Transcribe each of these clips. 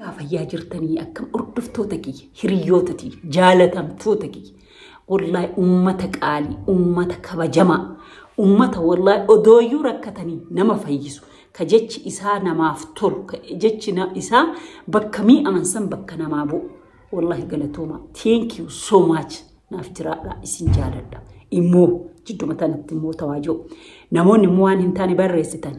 Yaa fayyaa jirtanii akkam hordoftoota kiyya hiriyoota tiyya jaalatamtoota kiyya wallahi ummata qaalii ummata kabajamaa ummata wallahi odooyyuu rakkatanii nama fayyisu ka jechi isaa namaaf tolu ka jechi na- isaa bakka mi'aan san bakka namaa bu'u wallahi galatooma thank you so much naaf jiraadha isin jaaladha immoo jidduma tanatti immoo tawaajoo namoonni immoo waan hin taane barreessitan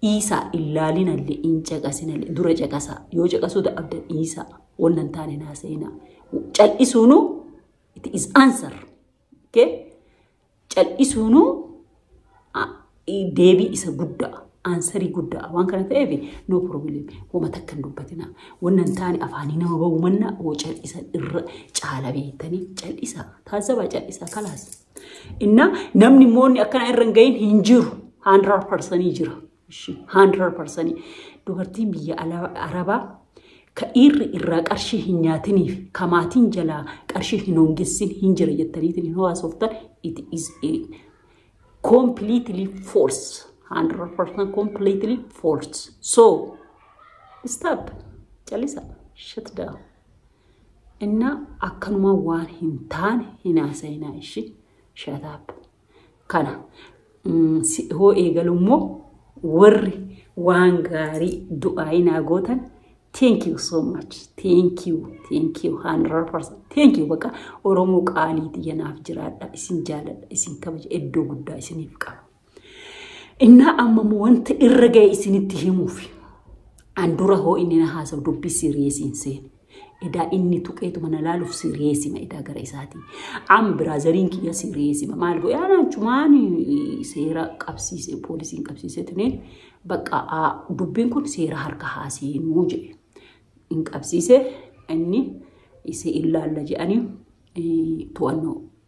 Dhiisaa hin laalinallee hin caqasinallee dura caqasaa yoo caqasuu dadhabdan dhiisaa wanna hin taane hin haasa'inaa cal'isuunuu it is answer okay? cal'isuunuu a- i- deebii isa guddaa aansarii guddaa waan kana ta'eef no problem homa takka hin dubbatina wanna hin taane afaanii nama ba'uu manna hoo cal'isan irra caala beektanii cal'isaa taasifaa cal'isaa kalaas. Inna namni moonni akkana irra hin gahin hin jiru. Haandiraa parsanii jira. Haandiraa parsanii. Dubartiin biyya Arabaa ka dhiirri irraa qarshii hin nyaatiniif ka maatiin jalaa qarshii hin hongessin hin jira jettaniitiin hin hawaasoftan it is a completely false. 100% completely false. So, stop. Calisa. Shut down. Inna akkanuma waan hin taane hin haasa'inaa ishi shataap. Kana mm, si hoo eegalu immoo warri waan gaarii du'aa'ii naa gootan thank you so much thank you thank you 100% thank you baqa oromoo qaaliiti yanaaf jiraadha isin jaaladha isin kabaja iddoo guddaa isiniif qaba. Innaa amma immoo wanta irra ga'e isinitti himuuf an dura hoo inni na haasa'u dubbii siriyeesii hin seene. Edaa inni tuqeetuma na laaluuf siriyeesima edaa gara isaatii. Am biraazariin kiyya siriyeesima maal godhe anaa chumaan seera qabsiise poolisiin qabsiise tunee bakka aa, dubbiin kun seera harka haaseenuu jedhe. Hin qabsiise inni isa ilaalla jedhanii eh, to'annoo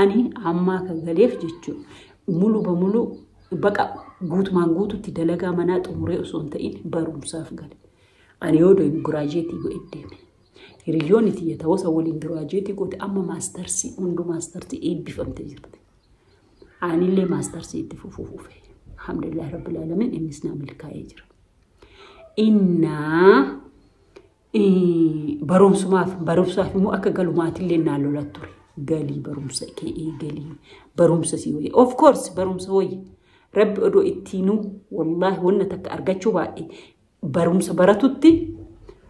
Ani amma akka galeef jechuun mulu ba mulu baqa guutumaan guututti dalagaa manaa xumuree osoo hin ta'in barumsaaf gale. Ani yoo deemu giraajeetii godhe deeme. Hiriyyoonni tiyya ta'uusa waliin giraajeetii goote amma maastarsii hunduu maastarsii eebbifamte jirti. Anillee maastarsii itti fufuu fufe. Alhamdulillah Rabbil Alamin innis naa milkaa'ee jira. Innaa barumsumaaf barumsaaf immoo akka galu maatillee naa lola ture. Galii barumsa kee eegalii barumsa si wayya. Of course barumsa wayya. Rabbi odoo ittiinuu wallaahi wanna takka argachuu baadhe barumsa baratutti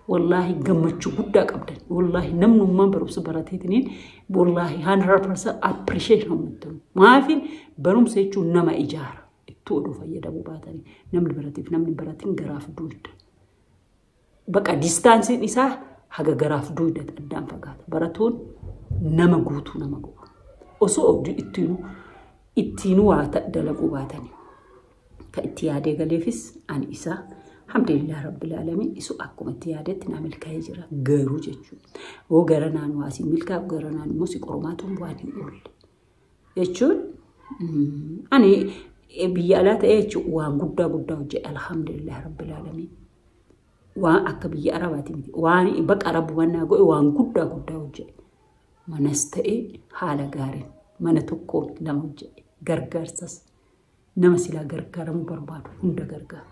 wallaahi gammachuu guddaa qabdan. Wallaahi namnummaan barumsa barateetiniin wallaahi 100% appreciate kan muttamu. Maafi barumsa jechuun nama ijaara. Ittuu odoo fayyadamuu baatanii namni barateef namni baratiin garaaf duudda. Baqa distaansiin isaa haga garaaf duuda addaan fagaata. Baratuun nama guutuu nama godha. Osoo abdii ittiinuu ittiinuu waa ta- dalaguu baatanii. Ka itti yaadee galeefis ani isaa alhamdulillah rabbil alamin isu akkuma itti yaadetti naa milkaa'ee jira garuu jechuudha. Hoo gara naan waa si milkaa'u gara naan immoo si qormaatuun waan hin oolle. jechuun ani biyya alaa ta'ee jechuun waan guddaa guddaa hojjedha alhamdulillah rabbil aalamiin. Waan akka biyya arabaati miti waan baqa rabbu mannaa godhe waan guddaa guddaa hojjedha. Manas ta'ee haala gaariin mana tokkoo lama hojjedhe gargaarsas nama silaa gargaaramuu barbaadu hunda gargaara.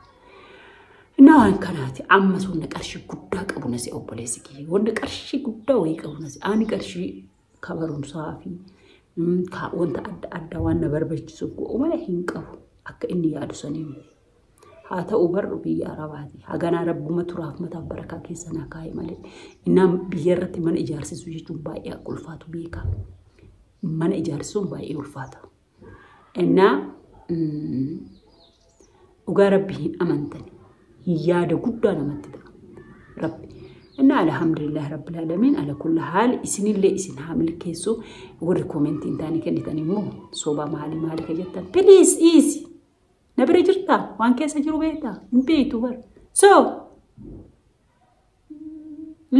Inni waan kanaati amma sunna qarshii guddaa qabu nasi obboleessi kiyya wanna qarshii guddaa wayii qabu nasi ani qarshii ka barumsaa fi ka wanta adda addaa waan na barbachisuuf go'u malee hin qabu akka inni yaadu sanii miti. Haa ta'u barru biyya arabaati. Haganaa rabbuma turaaf mataaf barakaa keessa naa kaa'e malee. Innaan biyya irratti mana ijaarsisuu jechuun baay'ee akka ulfaatu beekaa. Mana ijaarsisuun baay'ee ulfaata. Ennaa dhugaa rabbi hin amantan hin yaada guddaa namatti ta'a. Rabbi. Innaa alhamdulillah rabbil alamin ala kulli haal isinillee isin haa milkeessu warri koomentii hin taane kennitan immoo soba maalii maalii ka jettan please dhiisi na bira jirtaa waan keessa jiru beektaa hin beektu bara so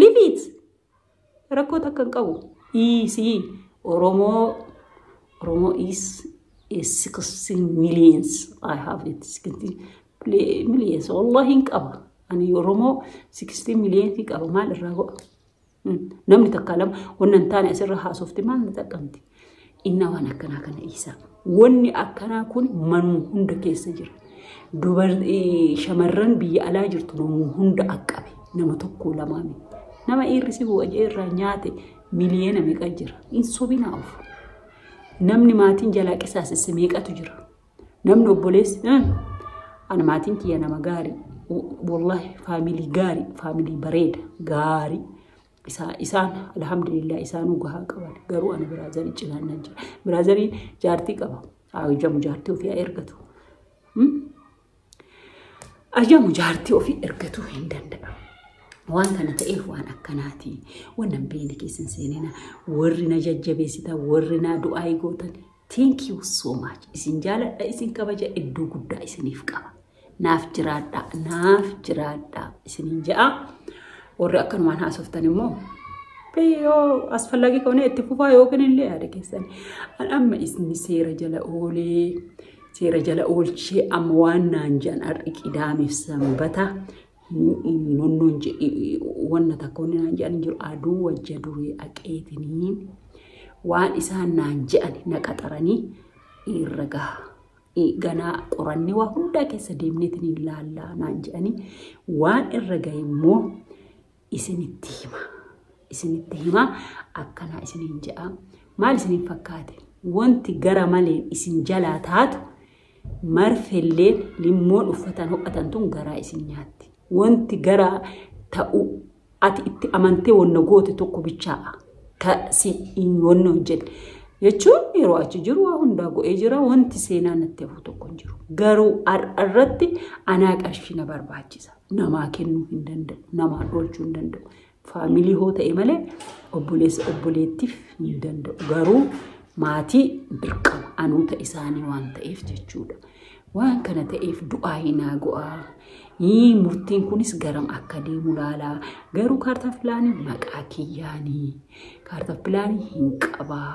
leave it Rakkoo takka hin qabu. Dhiisi. Oromoo Oromoo is a 16 millions. I have it 16 pli- millions. Wallahi hin qaba. Ani Oromoo 16 millions qaba. Maal irraa go'a? Hmm. Namni takka lama wanna hin taane asirra haasofte maal na xaqqamti? Innaa waan akkanaa kana dhiisaa. Wanni akkanaa kun manuma hunda keessa jira. Dubartii shamarran biyya alaa jirtu namuu hunda qaqqabe. Nama tokko lamaa miti. Nama dhiirri si bu'a jee irraa nyaate miliyoona meeqa jira. Hin sobinaa of. Namni maatiin jalaa qisaasesse meeqatu jira. Namni obboleessi ani maatiin kiyya nama gaarii. Wallahi faamilii gaarii faamilii bareeda gaarii. isaa isaan alhamdulillah isaanuu gahaa qaban garuu ani biraazarii cinaan nan jira biraazarii jaartii qaba haa hojjamu jaartii ofii haa ergatu ayyamu jaartii ofii ergatuu hin danda'a. Waan kana ta'eef waan akkanaati. Waan nan beekne keessan seenina. Warri na jajjabeessitan, warri na du'aa eegootan Thank you so much. Isin jaaladha, isin kabaja iddoo guddaa isiniif qaba. Naaf jiraadha, naaf jiraadha isiniin ja'a. Warri akkanumaan haasoftan immoo yoo asfallagii kaunee itti fufaa yookiin illee yaada keessan. An amma isin seera jala oolee seera jala oolchee amma waan naan jedhan har'i qidaamiif sanbata nonnoon jedhi wanna takka wanni naan jedhan jiru aduu wajja durii aqeetinii waan isaan naan jedhan na qaxaranii irra gaha. Ganaa qorannee waa hundaa keessa deemneetiin hin laallaa naan jedhanii waan irra gahe immoo isinitti hima. Isinitti hima akkanaa isiniin jedha. Maal isiniin fakkaate? Wanti gara maleen isin jalaa taatu Marfelleen limmoon uffataan ho'atan tun garaa isin nyaatti. Wonti garaa ta'u ati itti amantee wonna goote tokko bichaa ka si hin wonna hojjenne. Jechuun yeroo achi jiru waa hundaa go'ee jira wanti seenaa natti hafu tokko hin jiru. Garuu har'a irratti anaa qarshii na barbaachisa. Namaa kennuu hin danda'u. Namaa oolchuu hin danda'u. Faamilii hoo ta'e malee obboleessa obboleettiif hin danda'u. Garuu maatii dirqama anuuta isaanii waan ta'eef jechuudha. Waan kana ta'eef du'aa hin haago'aa. Yii murtiin kunis garam akka deemu laalaa. Garuu kaartaa filaanii maqaa kiyyaanii. Kaartaa filaanii hin qabaa.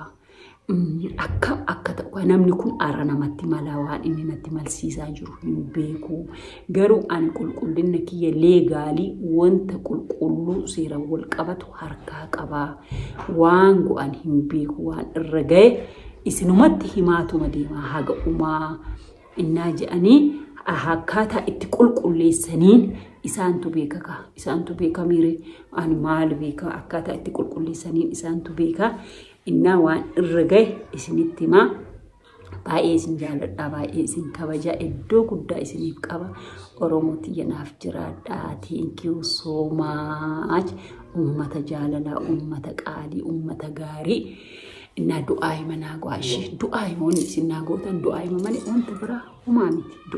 Akkam akka ta'u namni kun har'a namatti malaa waan inni natti malsiisaa jiru hin beeku. Garuu ani qulqullina kiyya leegaalii wanta qulqulluu seeraan wal qabatu harkaa qabaa. Waan go'an hin beeku waan irra ga'e isinumatti himaatuma deemaa haga umaa. innaa je'anii akkaataa itti qulqulleessaniin isaantu beeka kaa isaantu beeka miire ani maal beeka akkaataa itti qulqulleessaniin isaantu beeka innaa waan irra gahe isinitti himaa baay'ee isin jaaladhaa baay'ee isin kabajaa iddoo guddaa isiniif qaba oromoo tiyya naaf jiraadhaa thank you so much ummata jaalalaa ummata qaalii ummata gaarii Innaa du'aa hima naa go'aa ishee du'aa hima wanni isin naa gootan du'aa hima malee wantu biraa homaa miti.